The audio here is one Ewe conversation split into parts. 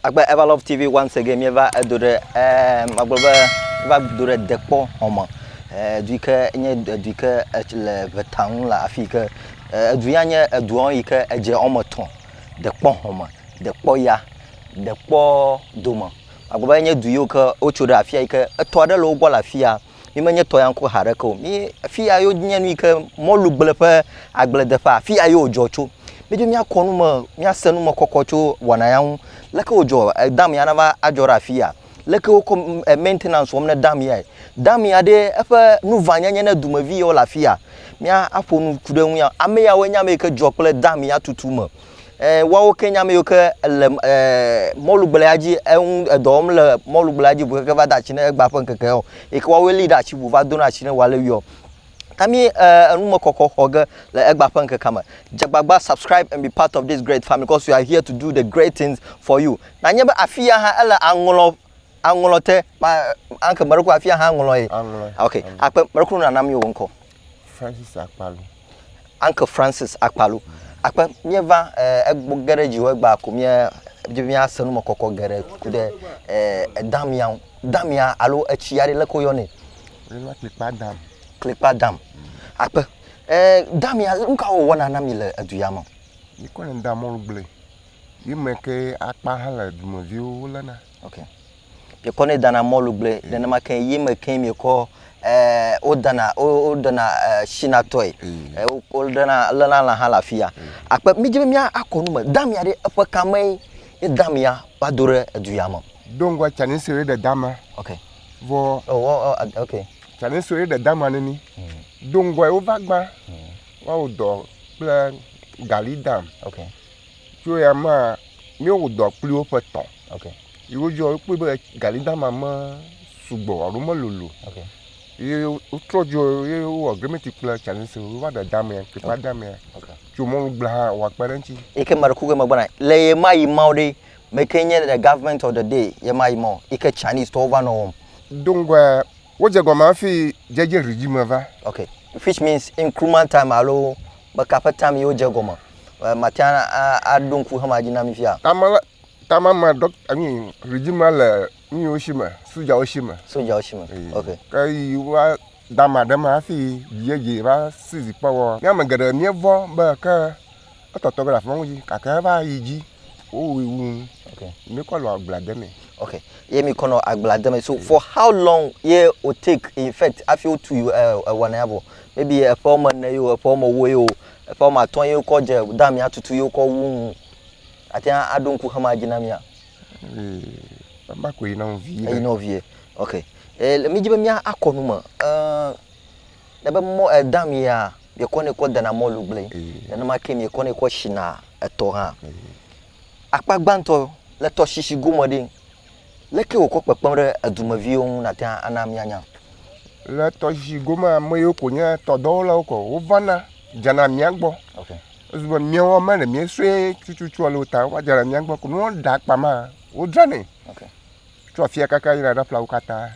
Agbe Eva Love TV once again mieva edo ɖe eh, magblɔ be mieva do ɖe dekpɔ xɔme eh, edu yi ke nye edu yi ke le ʋeta ŋu le afi yi ke eh, edu ya nye edua yi ke edze wɔme etɔ̃ dekpɔ xɔme dekpɔ ya dekpɔ dome magblɔ be enye du yiwo ke wotso ɖe afia yi ke etɔ aɖe le wo gbɔ le afia Mi menye tɔyanko haɖeke o. Mi afi ya yo nye nu yi ke mɔlugble ƒe agbledeƒe, afi ya yo wòdzɔ tso. Mídzo míakɔ nu me, míase nu me kɔkɔ tso wɔna ya ŋu. Leke wòdzɔ? E, dam ya nava adzɔ ɖe afi ya. Leke wokɔ e, maintenance wɔm ne dam yae? Dam ya ɖe eƒe nuvanyenye ne dumevi yawo le afi ya. Míaƒo nu ku ɖe eŋu ya. Ame yawoe nye ame yi ke dzɔ kple dam ya tutu me. eh, woawo ke nya meyiwo ke le eh, mɔlugblea dzi eŋu eh, edɔ wɔm le mɔlugblea dzi bu keke va da atsi ne egba ƒe ŋkeke o yi ke woawoe li ɖe atsi bu va dona atsi ne wòale wiɔ ami eh, enumekɔkɔ xɔ ge le egba ƒe ŋkekea me dzagbagba subscribe and be part of this great family because we are here to do the great things for you nanye be afi ya hã ele aŋlɔ aŋlɔ te ma anke meɖokɔ afi ya hã aŋlɔ ye Aŋlɔe. ok akpe meɖokɔ nanam yewo ŋkɔ Francis Akpalu. Uncle Francis Akpalu. Akpe míeva egbɔ ge ɖe dziwɔ egba ko mía dzi mía se nume kɔkɔ geɖe ku ɖe edamia ŋu. Damia alo etsi aɖe leke woyɔ nɛ? Woyɔna klikpa dam. Klikpa dam. Akpe damia nu ka wòwɔna na mi le edu ya me? Míkɔnɛ da mɔlu gble. Yi me ke akpa hã le dumeviwo woléna. Okay. miekɔnɛ dana mɔlugble nenema ke ye me ke miekɔ ɛɛ wodana woɖena ɛɛ sinatɔe ɛɛ mm. woɖena lena lã hã le afi ya mm. akpe midze be mia akɔ nu me damia ɖe eƒe kame ye damia va do ɖe edu ya me. do ŋgɔ tsani si ɖe dama. ok vɔ. ɔ oh, oh, oh, ok. tsani si ɖe dama ne ni mm. do ŋgɔ ye wova gbã woawo dɔ kple gali dam. ok. Tso ya ma mía wò dɔa kpli wo ƒe tɔn. Ok. Yi wo dzɔ kpli be gali dama me sugbɔ alo me lolo. Ok. Yi wo trɔ dzɔ yi wo wɔ grimeti kple tsanni se wo va ɖe dama kpe pa dama. Ok. Tso mɔlu gblẽ hã wɔ akpa ɖe ŋuti. Yi ke ma ɖe kuku me gbɔna le ye ma yi ma wo ɖe me ke nye the government of the day ye ma yi ma wo yi ke Chinese tɔwo va nɔ wɔm. Doŋgɔa. Wodze gɔme hafi dzedze ɣi dzi me va. Ok, which means increment time alo meka ƒe time ye wodze egɔme. Mate ŋu aɖo ŋku xema dzi na mi fia? Time la, time ma dɔ, I mean, ɣi dzi ma le nuyiwo si me, sojawo si me. Sojawo si me, ok. Ke ɣi va dama ɖe ma hafi dzedze va season kpɔ wɔ. Mía ame geɖe mía vɔ̃ be ke. etɔtɔ ge le afima ŋdzi gake eva yi dzi wowui wu nu okay. mi kɔ le agbla de me okay. ye mi kɔ nɔ agbla de me so for how long ye o take in fact afi o tu ewana ya bɔ maybe eƒe wɔme ne yo eƒe wɔme wo yo eƒe wɔme atɔ ye kɔ dze da mi atutu ye kɔ wu nu ati aɖo ŋku xema dzi na mia ema ko yi na wo vie yi na wo vie okay e le mi dzi be mia akɔ nu me uh, Ne be mɔ edã mia, miekɔnɛ kɔ dena mɔlu gblẽe, nenema ke miekɔnɛ kɔ shina etɔ hã. Akpa gbãtɔ le tɔshishi gome ɖe, leke wòkɔ kpekpem ɖe edumeviwo ŋu nate ŋu ana mianya? Le tɔshishi gomea, ame yiwo ko nye tɔdɔwolawo ko wovana dzana mia gbɔ. Okay. Ezu be miawo ame ɖe miesue tututua le wo ta, wova dzana mia gbɔ ko. Ne woɖe akpa ma, wodzranɛ. Okay. tso afia kaka yina ɖe aƒlawo katã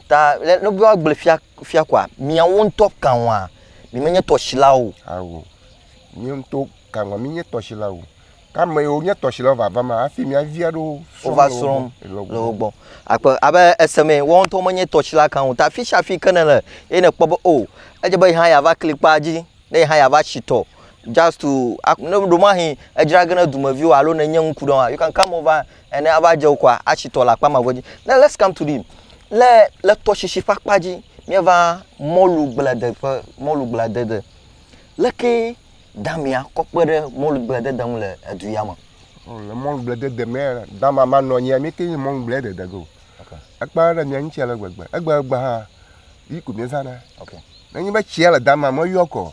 ta le ne bua gble fia fia kɔa miawo ŋutɔ kanwa mi menye tɔsilawo awo mi ŋutɔ kanwa mi nye tɔsilawo kame yiwo nye tɔsilawo vava ma hafi mia vi aɖewo wova srɔ̃m le wo gbɔ akpe abe eseme wɔn ŋutɔ menye tɔsila kan o ta fi sia fi ke ne le eye ne kpɔ be o oh, edze be yi hã yeava kli kpa dzi ne yi hã yeava si tɔ just to ne ɖo mahi edzra ge ne dumeviwo alo ne nye ŋku ɖe wa you can come over Ene ava dze wokɔa atsi tɔ le akpa mavɔ dzi. Now let's come to the le le tɔsisi ƒe akpa dzi míeva mɔlu gblede ƒe mɔlu gbledede. Leke damea kɔ kpe ɖe mɔlu gbledede ŋu le edu ya me? Oh, le mɔlu gbledede me dama manɔ anyi mi ke nye mɔlu gbledede go. Okay. Ekpe ɖe mia ŋuti ale gbegbe. Egbegbe hã yi ko miezana. Okay. Nenye be tsia le dama meyɔ kɔ.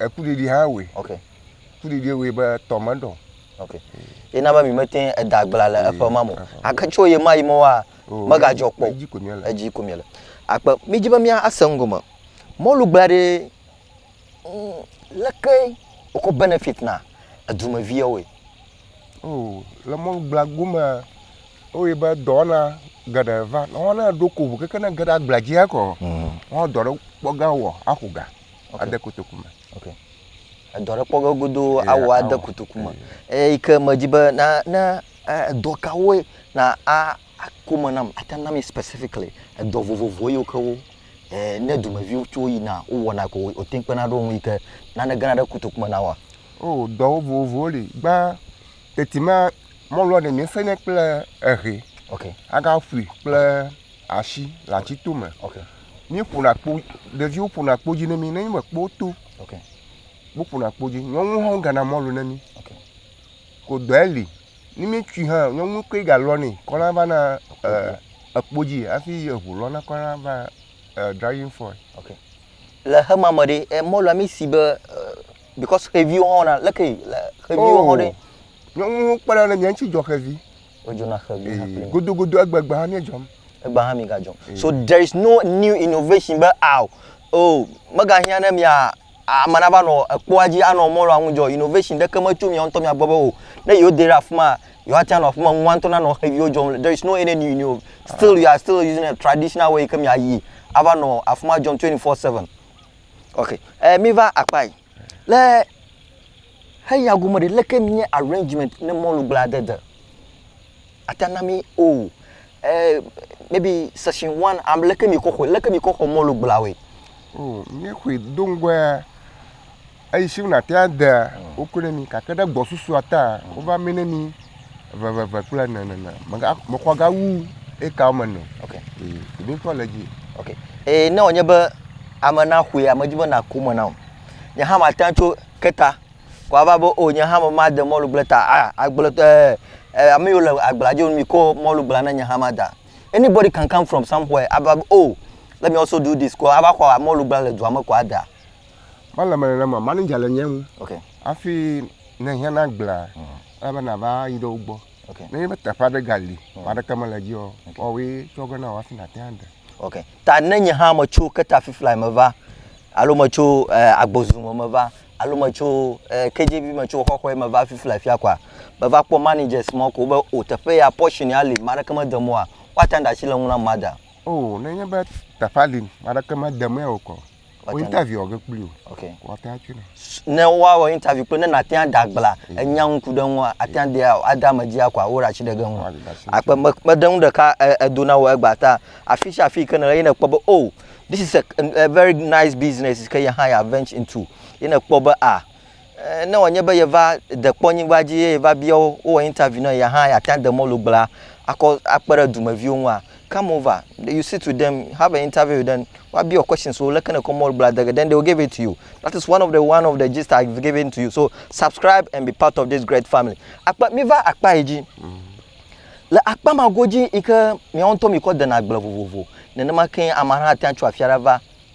Ekuɖiɖi hã wɔe. Ok. Kuɖiɖi wɔe be tɔ me ɖɔ. Ok. Ye na be mi me te eda agbla le eƒe ma mo. Ake tso ye ma yi me wa me ga jɔ kpɔ. Edzi ko mi le. Edzi ko mi le. Akpe mi dzi be mi a se ŋgo me. Mɔlu gbla ɖe mm, leke wokɔ benefit na edumeviwo wɔe. Oh, le mɔlu gbla gome oye be dɔwɔna geɖe va. Wɔna ɖo ko ʋu keke ne ge ɖe agbla dzi ekɔ. Mm. Wɔn dɔ ɖe kpɔ ga wɔ axo ga. ade kotoku me. Okay. Edɔ ɖe kpɔ ge godoo awɔ ade kotoku me. Eye yi ke medzi be na ne edɔ kawoe na a ako me nam ate na mi specifically edɔ vovovo yiwo ke wo e, ne dumeviwo tso yina wowɔna ko wote kpena ɖo ŋu yi ke nane gena ɖe kotoku me na wa. O dɔwo vovovowo li gbã teti ma mɔlua ne mi sene kple ehe. Okay. Aga fui kple okay. ashi le atsi to me. Okay. mi ƒona kpo ɖeviwo ƒona kpo dzi ne mi ne mi me kpo to okay. wo ƒona kpo dzi nyɔnu hã gana mɔlu ne mi okay. ko dɔɛ li ni mi tui hã nyɔnu koe ga lɔ ne kɔna va na eh, ekpo dzi hafi eʋu lɔ na kɔna va eh, driving fɔ okay. le hema me ɖe eh, mɔlua mi si be eh, because xeviwo hã na leke le xeviwo hã oh, ɖe nyɔnu kpena ne mi ŋuti dzɔ xevi Wodzona xe gbe hã kpli mi. Godogodo egbe gbe hã mi edzɔm. Egbe hã mi ga dzɔm. So there is no new innovation be aw oh mega hiã ne mia ame na va nɔ ekpoa dzi anɔ mɔlɔ anu dzɔ innovation ɖe ke me tso mia ŋutɔ mia gbɔ be o ne yewo de ɖe afima yewoa tia nɔ afima nua ŋutɔ na nɔ xe viwo dzɔm le there is no any new new still you are still using a traditional way ke mia yi ava nɔ afima dzɔm twenty four seven. Ok eh mi va akpa yi le. Heya gome ɖe leke nye arrangement ne mɔlu gblẽ aɖe de ata na mí o. Eh, maybe session one, am leke mi kɔ xɔe, leke mi kɔ xɔ mɔlu gblẽa woe? Oh, mí xɔe do ŋgɔa, eyi si wona tea dea, wokɔe ne mí gake ɖe gbɔsususa taa, wova mí ne mí veveve kple ene nene. Mega, mexɔ ga wu eka woame ene. Ok. Eh, mí kɔ le dzi. Ok. Eh, ne wònye be ame na xɔe, ame dzi be na ko me na o. Nye hã mate ŋu tso ke ta. Ko ava be o nye hã me made mɔlugble ta a ah, agbletɔ eh, eh, ame yiwo le agblea dzo mi ko mɔlugblea na nye hã ma da. Anybody can come from somewhere ava be oh let me also do this ko ava xɔ mɔlugblea le dua me ko ada. Mele me nenema manager le nye ŋu. Okay. Afi ne hiã na gblea mm. ebe nava yi ɖe wo gbɔ. Okay. Ne nye be teƒe aɖe gali, mm. ame aɖeke mele dzi o, wɔwɔe tsɔ ge na wɔ afi nate ade. Okay. Ta ne nye hã metso ketafiflae me va, alo metso agbozu me meva, alo metso KJV me tso xɔxɔe me va fiflae fia kɔa, meva kpɔ managers mawo ko wobe, O, teƒe ya, portion ya li, ame aɖeke mede mɔ oa, woate ŋu aɖe asi le eŋu nam mada. O, nenye be teƒea li, ame aɖeke mede mɔe o kɔ, wɔ interview wɔ ge kpli o ok wɔ ta tsi na ne wa wɔ interview kpli ne na tia da gbla mm. enya ŋku ɖe ŋua atia de ada ame dzi akwa wo ra tsi ɖe ge ŋu akpe me kpe ɖe ŋu ɖeka edo na wɔ egba ta afi tsi afi ke ne ye ne kpɔ be oh this is a, a very nice business ke ye hã ya venture into ye ne kpɔ be ah Eh, ne wòanye be yeva dekpɔ nyigba dzi eye va bia wo, wowɔ interview na ya hã, yeate ŋu ade mɔlu gblea akɔ akpe ɖe dumeviwo ŋua? Come over, you sit with them, have an interview with them, woabia wò questions wo, leke nekɔ mɔlu gblea dege, then they will give it to you. That is one of the one of the gist I've given to you. So subscribe and be part of this great family. Akpa, mi va akpa yi dzi. Le akpa ma godzi yi ke miawo ŋutɔ mikɔ dena agble vovovo. Nenema ke ame aɖe hã ate ŋu atso afi aɖe va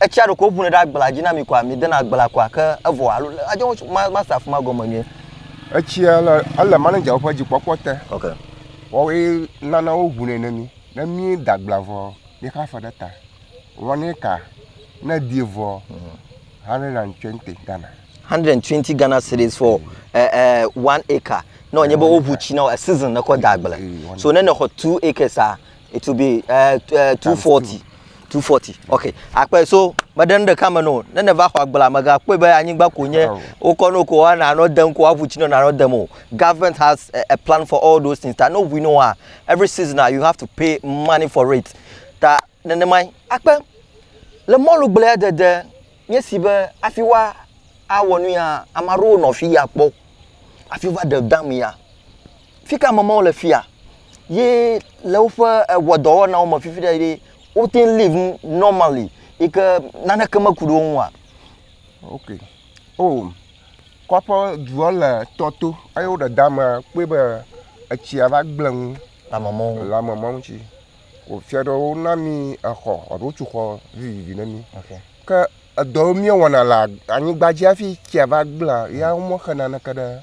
Etsia ɖeko ŋunɛ ɖe agblea dzi na mi koa? Midena agblea koa? Ke evɔ alo le adzɔ ŋutsu ma ma se afima gɔme nyuie. Etsia le ele manager ƒe dzikpɔkpɔ te. Ok. Wɔwoe nana wo ŋunɛ ne mi. Ne mi da agblea vɔ mi xa fe ɖe ta. Wɔnɛ ka ne di vɔ hundred and twenty Ghana. Hundred and twenty Ghana cedis for e eh, e eh, one acre. Ne wònye be woŋu tsi na wò a season ne kɔ da agble. So ne nexɔ two acres a it will be uh, uh, 240 240 ok akpɛ so meɖe nu ɖeka me no ne ne va xɔ agbla megakpɔe be anyigba ko nye wokɔ no ko woana nɔ dem ko woaʋu tsi nɔ nanɔ dem o government has a, a plan for all those things ta ne ʋui no wa every season ah, you have to pay money for it ta nenemae akpɛ le mɔlu gblea dede nye si be afi wa awɔ nu ya ame aɖewo nɔ fi ya kpɔ afi va ɖe dam ya Fi ka me Mawu le fia ye le woƒe ewɔdɔwɔnawo me fifi ɖe ye wote ŋu live normally yi ke naneke meku ɖe wo ŋu oa? Ok. Oh, kɔƒe dua le tɔ to eye woɖe da me kpɔe be etsia va gblẽ nu. Lamemɔnu. Lamemɔnu tsi. Wofia ɖe wona mi exɔ alo wotso xɔ vivivi ne mi. Okay. Ke edɔ míewɔna le anyigba dzi hafi tsia va gblẽa, ya womexe naneke ɖe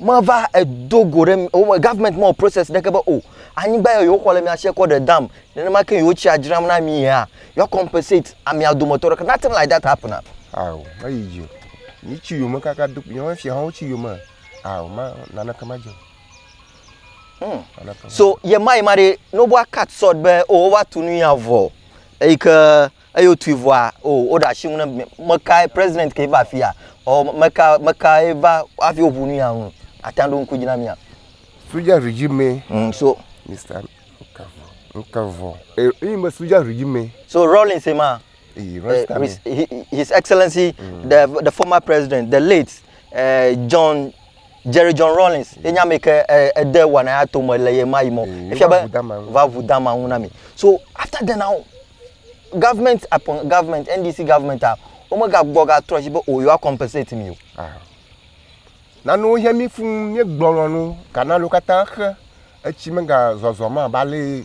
meva edo go ɖe wome gɔvmɛnt mewɔ process ɖeke be o anyigba yɔ yewoxɔ le mia si kɔ ɖe dam nenema ke yewo tsia dzram na mi ya yewoa compensate amia dometɔ ɖeka nothing like that happen at. awo meyi dzi o yi tsi yome kaka do yewo fia hã wotsi yome awo ma naneke ma dze hmm. so yema yema ɖe noboa cut sɔd be o wova tu nu ya vɔ eyi ke Eye wotui vɔa, o, woɖe asi ŋu ne mekae President ke va afia, ɔ, meka, mekae va hafi woʋu nu ya ŋu. Ate ŋu aɖo ŋku dzi na mía. Soja regime. Mm, so. Mister Nkavɔ, Nkavɔ. E, eyi me soja regime. So Rawlings ema. Eyi, Rasta me. His Excellency, mm. the, the former president, the late uh, John Jerry John Rawlings ye nye ame ke eh, ede wɔna ya to me le ye ma yi mɔ. Mm, Efia be va ʋu dama ŋu na mi. So after then now, government upon government, NDC government a, womegagbɔ gatrɔ si be o oh, yewoa compensate mi o. Ah. Nanewo hiã mi fuu míegblɔ lɔnu kana ɖo katã xe etsi megazɔzɔ ma ba le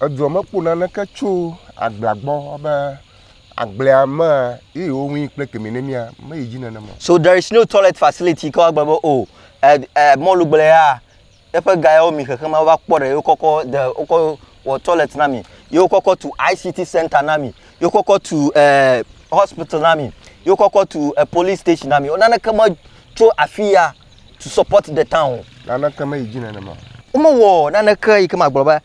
Edua me kpɔ naneke tso agblea gbɔ be agblea me ye wo ŋui kple kemi ne mia me yi dzi nenema. So there is no toilet facility ke woagblɔ be o e e mɔlugblea eƒe ga yawo mi xexema wova kpɔ ɖe ye wokɔ kɔ de wokɔ wɔ toilet na mi ye wokɔ kɔ tu ICT center na mi ye wokɔ kɔ tu e hospital na mi ye wokɔ kɔ tu e police station na mi naneke me tso afiya. to support the town. Naneke meyi dzi nenema. Womewɔ naneke yi ke magblɔ be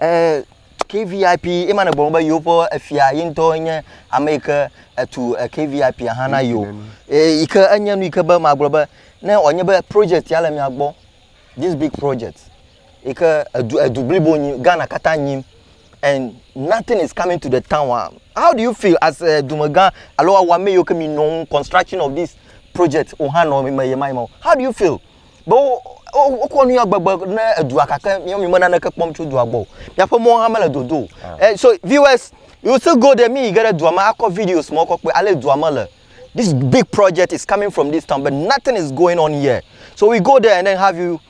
eh, KVIP ema ne gblɔ be yewoƒe efia ye ŋutɔ nye ame yi ke etu eh, KVIP hã na yewo eh, yi ke enye nu yi ke be magblɔ be ne wòanye be project ya le mia gbɔ this big project yi ke edu edu blibo nyi Ghana katã nyim and nothing is coming to the town ah how do you feel as a dumegã alo awɔame yiwo ke mi nɔ ŋu construction of this project wo hã nɔ eme yema yema o how do you feel be wo wokɔ nu ya gbegbe ne edua kake mi mi me naneke kpɔm tso dua gbɔ o miaƒe mɔ hã mele dodo o ah. eh, so viewers you still go there mi yi ge ɖe dua me akɔ videos mɔ kɔ kpe ale dua me le this big project is coming from this town but nothing is going on here so we go there and then have you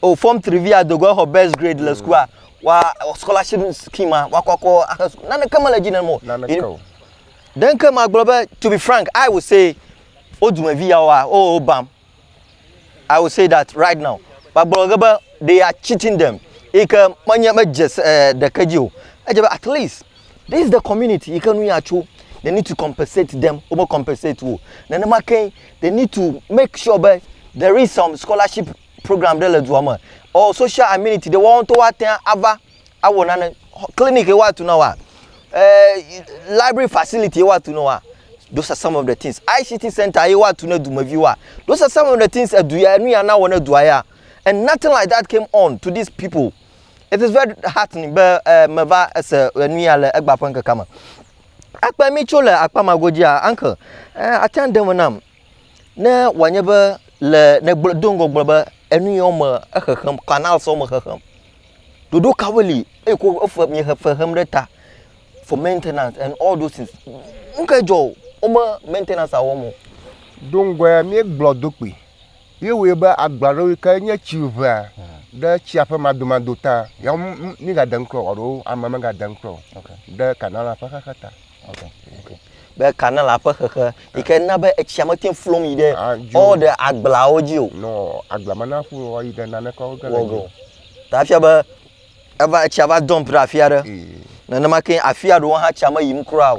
O form three vi ya dogo exɔ best grade le sukua wa scholarship scheme ma wa kɔkɔ axe sukuu naneke mele dzi ne mo. Naneke o. Denke ma gblɔ be to be frank I will say o dumevi ya wa o o bam. I will say that right now. Ba gblɔ ge be they are cheating them. Ike menye me dze eh, ɖeke dzi o. Edze be at least this is the community ike nu ya tso. They need to compensate them. O me compensate wo. Nenema ke they need to make sure be there is some scholarship program ɖe le dua me ɔ social amenity ɖe woawo ŋutɔ woate ŋu ava awɔ nane clinic ye woatu na woa e library facility ye woatu na woa those are some of the things ict center ye woatu na dumeviwoa those are some of the things edu ya enu ya na wɔ na dua ya and nothing like that came on to these people it is very heartening be e meva ese enu ya le egba ƒe ŋkekea me akpe mi tso le akpa ma godzia uncle e ate ŋu de me nam Ne wòanye be le nègblɔ do ŋgɔ gblɔ be enu yi wɔm mele exexem canals wɔm mele xexem. Ɖoɖo kawoe li eye ko efe miexe fe xem ɖe ta for maintenance and all those things. Nu kae dzɔ o wome maintenance wɔm o. Do ŋgɔe míegblɔ do kpui. Míewɔe be agba ɖewo yi ke nye tsi ʋea ɖe tsia ƒe madomado ta. Ya wo mígade ŋutrɔ o alo ame megade ŋutrɔ o ɖe Kanala ƒe xexe ta. Be Kanala ƒe xexe yi ke na be etsia mete ŋu flom yi ɖe ɔ ɖe agbleawo dzi o. Nɔ agblea me na ƒu ɔ yi ɖe naneke wo ke le dzi o. Ta efia be eva etsia va dump ɖe afi aɖe. Nenema ke afia ɖewo hã tsia meyim kura o.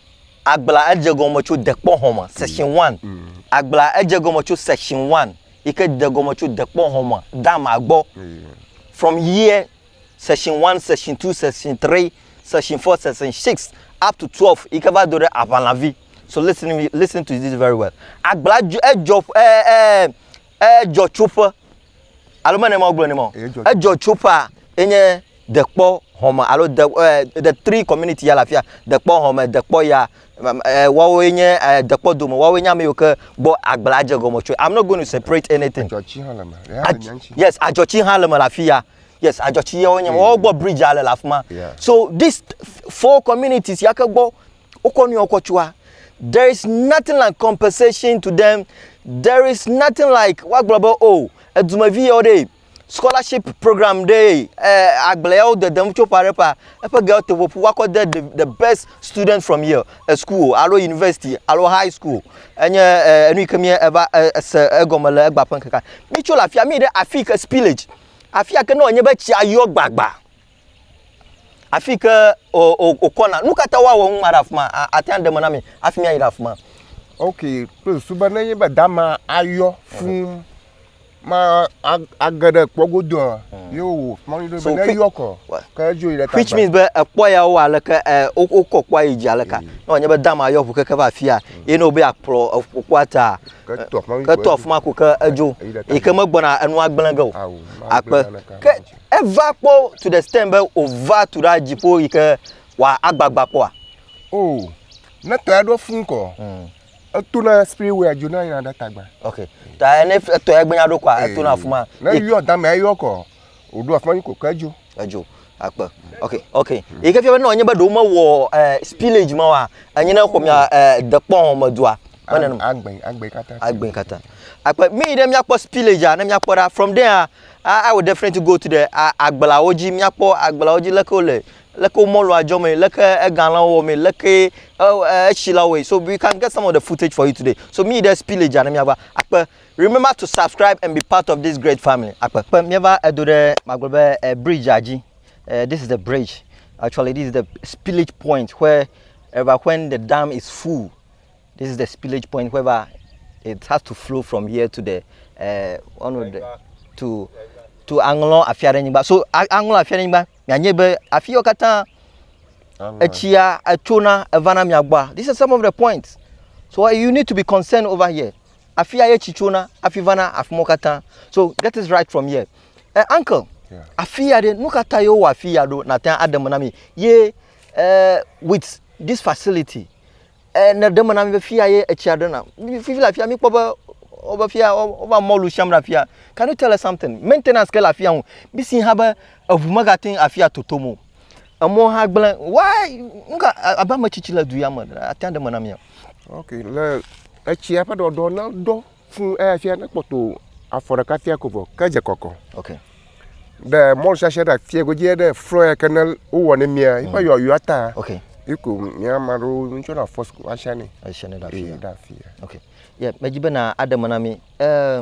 Agbla edze gɔme tso dekpɔ hɔn me, section one. Agbla edze gɔme tso section one yi ke de gɔme tso dekpɔ hɔn me dama gbɔ. From here section one, section two, section three, section four, section six up to twelve yi ke va do ɖe aʋalavi. So listen to me, listen to this very well. Agbla edzɔ edzɔ ƒe e e edzɔ tso ƒe. Alo mene ma wogblɔ ne ma o. Edzɔ tso ƒea enye dekpɔ hɔme alo de eh, the three community ya le afia dekpɔ hɔme dekpɔ ya eh, woawoe nye eh, dekpɔ dome woawoe nye ame yiwo ke gbɔ agble adze gɔme tsoe i'm not going to separate anything Adzɔtsi hã le me. Ya Adz- nya ŋuti. yes adzɔtsi hã le me le afi ya yes adzɔtsi yawo nye woawo gbɔ bridge ale le afi ma Yeah. so this four communities ya ke gbɔ wokɔ nu yawo kɔ tsua. There is nothing like compensation to them. There is nothing like woagblɔ be o oh, edumevi yawo ɖe scholarship program ɖe eh, agble yawo dedem tso ƒa ɖe ƒa eƒe gewo te ƒoƒu woakɔ de the, the best student from here a school alo university alo high school enye eh, enu yi ke mi eva eh, ese egɔme le egba ƒe ŋkeka mi tso le afia mi ɖe afi ke spillage afia ke ne wònye be tsia yɔ gbagba afi ke wòkɔna. Nu ka ta woawɔ ŋu ma ɖe afi ma? Ate ŋu aɖe me na mi hafi míayi ɖe afi ma. Ok, kple susu be ne nye be dama ayɔ fũu ma age ɖe kpɔ godoa, hmm. ye wò mɔnu ɖo be ne yɔ kɔ, ke edzo yi ɖe ta. Which means be ekpɔ ya wo aleke wokɔ kpɔa yi dzi aleka. Hmm. Ne wònye be dama ayɔ ŋu keke va afia, hmm. ye ne wòbe akplɔ ƒukua ta, ke to afi ma ko ke edzo, yi ke megbɔna enua gblẽ ge o. Akpe. Eva kpɔ to the extent be wòva tu ɖa dziƒo yi ke wòagbagba kpɔa? O, ne tɔe aɖo fũ ŋkɔ, hmm. etona spirit way dzona yina ɖe tagba. Ok, ta ne etɔe gbenya ɖo kɔa, etona afi ma. Ne yɔ dame ayɔ kɔ, wòɖo afi ma yi kɔkɔ edzo. Edzo akpe. Ok, ok. Yi ke fia be ne wònye be ɖewo mewɔ eh, spillage ma wa, enye ne xɔ mia eh, dekpɔ me dua. agbɛn agbɛn kata agbɛn kata akpe mi ɖe mia kpɔ spillage ne mia kpɔ ɖa from there a awo different goat ɖe agbla wo dzi mia kpɔ agbla wo dzi leke wo le leke wo mɔlu adzɔ me leke ega la wo wɔ me leke etsi la wo wɔ so we can get some of the footage for you today so mi ɖe spillage ne mia va akpe remember to subscribe and be part of this great family akpe kpe mia va edo ɖe magblɔ be eh, bridge dzi eh, this is the bridge actually this is the spillage point where ever when the dam is full This is the spillage point whereby it has to flow from here to the uh, one of the to to aŋlɔ afia ɖe nyigba. So aŋlɔ afia ɖe nyigba mianye be afi yɔ katã etsia etsona evana mia gbɔa. This is some of the points. So you need to be concerned over here. Afia ye tsi tsona afi vana afi mo katã. So get this right from here. Uh, uncle, yeah. afi ya ɖe nu katã yewo wɔ afi ya ɖo nate aɖe me na mi ye uh, with this facility. E, neɖe me na mi be fia ye etsia ɖena. Fifi le afia mikpɔ be wobe fia wova mɔlu siam ɖe afia. Can you tell us something? Maintenance ke le afia ŋu. Misi hã be eŋu megate ŋu afia totom o. Emɔwo hã gblẽ. Why? Nuka abe ame tsitsi le du ya me ate ŋu ɖe me na mia? Ok, le etsia ƒe ɖɔɖɔ ne ɖɔ Fũ eya fia ne kpɔtɔ afɔ ɖeka fia ko vɔ ke dze kɔkɔ. Ok. Ɖe mɔlu shasha ɖe afia godzi ɖe flɔ ya ke ne wowɔ ne mia yi ƒe yɔyɔ ta. Ok. Yi ko mia ma ɖo ŋtsɔ na fɔ sku asha ne. Asha ne ɖe afia. Ɖe afia. Ok. Ye me dzi be na aɖe me na mi. Eh,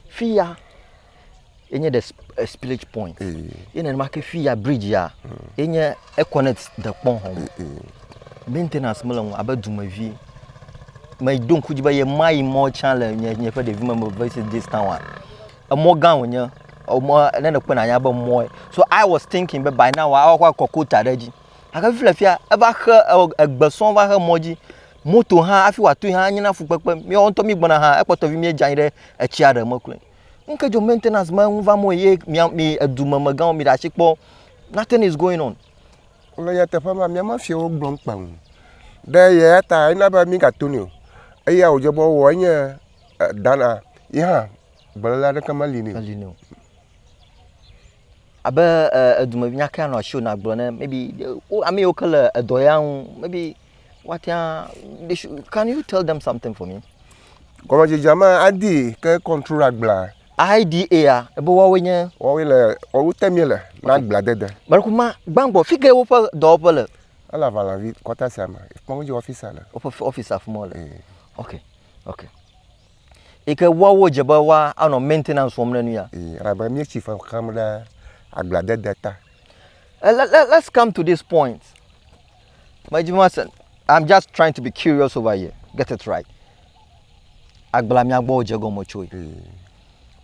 fia Enye the spillage point. Ye nenema ke fi ya bridge ya enye econnect dekpɔn hɔn. Maintenance mele ŋu abe dumevi. Me do ŋku dzi be ye ma yi mɔ tsã le nye nye ƒe ɖevi me me visit this town a. Emɔ gã wonye. Emɔ ne ne kpena nya be mɔ. So I was thinking be by now awa kwa kɔkota ɖe dzi. Ake fi le fia eva xe egbe sɔn va xe mɔ dzi. Moto hã afi wa to hã nyina fukpekpe. Mi ɔntɔ mi gbɔna hã ekpɔtɔ vi mi dza anyi ɖe etsia ɖe me kloe. Ŋke dzo maintenance ma ŋu va mɔ ye mia mi edume megãwo mi ɖe asi kpɔ. Nothing is going on. Le nyateƒe ma mia ma fiewo gblɔ ŋkpa ŋu. Ɖe yɛ ta ena be mi gato ni o. Eya wodze be wɔ enye dana yi hã gbelela ɖeke meli ni. Meli ni o. Abe eh, edume nyakea nɔ asi o na gblɔ ne maybe eh, wo ame yiwo ke le edɔ ya ŋu maybe woatea they should can you tell them something for me. gɔmedzedzea ma adi ke control agblea. IDA ya ebe woawoe nye. woawoe le woawo te mi le na agblea dede. Mɛrɛku ma gbãgbɔ fi ke woƒe dɔwɔƒe le. ele aʋalavi kɔta sia me kpɔm dzi ɔfisa le. woƒe ɔfisa afi ma le. ok ok yi ke woawo dze be woa anɔ maintenance wɔm ne nu ya. ee elabe mi tsi fe xam ɖe agblea dede ta. Eh, let, let, let's come to this point. Medzi be mase. I'm just trying to be curious over here. Get it right. Agbla mia gbɔ dze gɔme tsoe.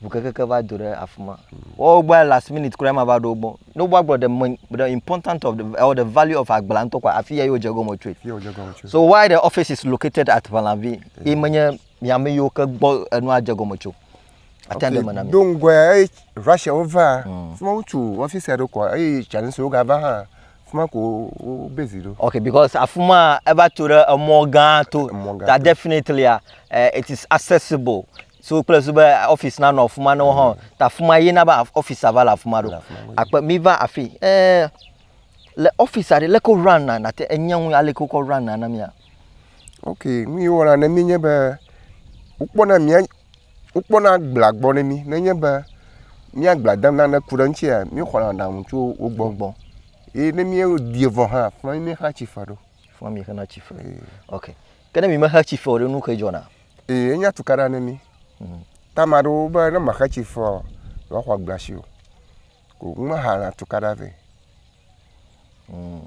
Bukekeke mm. va do ɖe afi ma. Mm. Wo gba last minute kura ma va ɖo gbɔ. Ne wo gblɔ the main the important of the or the value of agbla ntɔ kwa afi ya yo dze gɔme tsoe. So why the office is located at Valanvi? Mm. Imenye Mi ame yiwo ke gbɔ enua dze gɔme tso. Ate ŋu ɖe eme na mi. Do ŋgɔe eye Russiawo va. Hmm. Fima wotu ɔfisi aɖe kɔ eye Chinese wo gava hã. Fima ko wo base ɖo. Okay, because afima eva tso ɖe emɔ gã to. Emɔ gã. That definitely uh, it is accessible. So kple so be office na nɔ afima ne wo hã. Hmm. Ta afima ye na be office ava le afima ɖo. Akpe mi va afi. Eh, le office aɖe leke run na na te enye ŋu aleke wokɔ run na na mia. Ok nu yi wɔna ne mí nye be wokpɔna mía wokpɔna agblea gbɔ ne mí nenye be mía agblea dem nane ku ɖe eŋuti mí xɔna aɖaŋu tso wo gbɔ gbɔ ye ne míeɖi vɔ hã afi ma mí xlẽa tsi fe ɖo. Afi ma mí xlẽna tsi fe. Ok. Ke ne mí me xe tsi fe o ɖe nu kae dzɔna? Ee enye atukaɖa ne mí. Hmm. Ta ame aɖewo be ne mexe tsi fe o yewoaxɔ agblea si o. Ko womeha atukaɖa vɛ. Mm.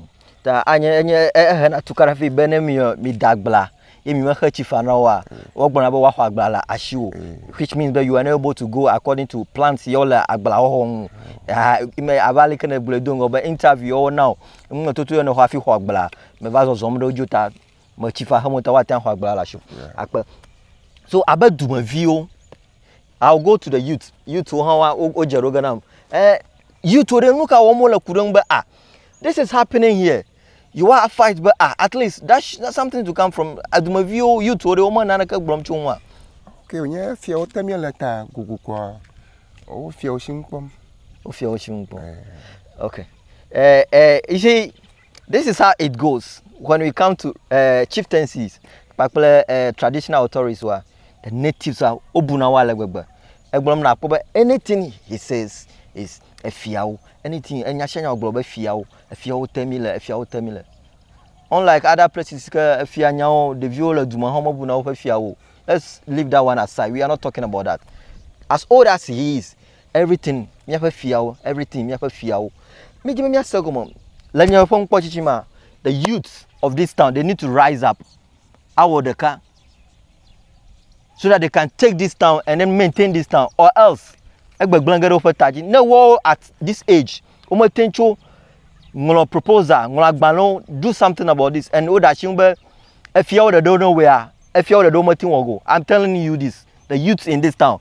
Ta anye enye ehena tukaɖa vɛ be ne mi mida agbla ye mi mexe tsi fa na woa, wogblɔna be woaxɔ agbla le asiwò. Mm. Which means that you are not able to go according to plans yewo le agbla xɔxɔ ŋu. Ah, me ava ali ke ne gblɔe do ŋgɔ be interview yewo na o. Ŋu toto yewo ne xɔ afi xɔ agbla. Me va zɔzɔm ɖe wodzi ta me tsi fa xe mo ta woate ŋu xɔ agbla le asiwò. Akpe. So abe dumeviwo I'll go to the youth. Youth wo hã wa wo dze ɖo ge nam. Eh youth wo ɖe nu ka wɔm wo le ku ɖe ŋu be ah this is happening here. You are fight be ah at least that something to come from adumeviwo youth wo ɖe wo me naneke gblɔm tso ŋua. Ke wonye fiawo te mi le ta gugu kwa. O fiawo shi ŋkpɔm. O fiawo shi ŋkpɔm. Eh. Okay. Eh eh you see This is how it goes when we come to uh, chieftaincies kpakple uh, traditional authorities wa the natives wa wobuna wo ale gbegbe egblɔm na akpɔ be anything he says is efiawo anything enya sia nya wogblɔ be fiawo efiawo te mi le efiawo te mi le unlike other places ke efia nyawo ɖeviwo le duma hã mebuna woƒe fiawo let's leave that one aside we are not talking about that as old as he is Everything míaƒe fiawo, everything míaƒe fiawo. Mídi be míase gɔme le nye ƒe ŋkpɔtsitsi ma. The youth of this town, they need to rise up. Awɔ ɖeka. So that they can take this town and then maintain this town or else egbegblẽ ge ɖe woƒe ta dzi. Ne woawo at this age, womete tso ŋlɔ proposal, ŋlɔ agbalẽwo, do something about this and woɖe asi ŋu be efiawo ɖeɖewo ne wɔea, efiawo ɖeɖewo mete wɔ go. I'm telling you this, the youth in this town,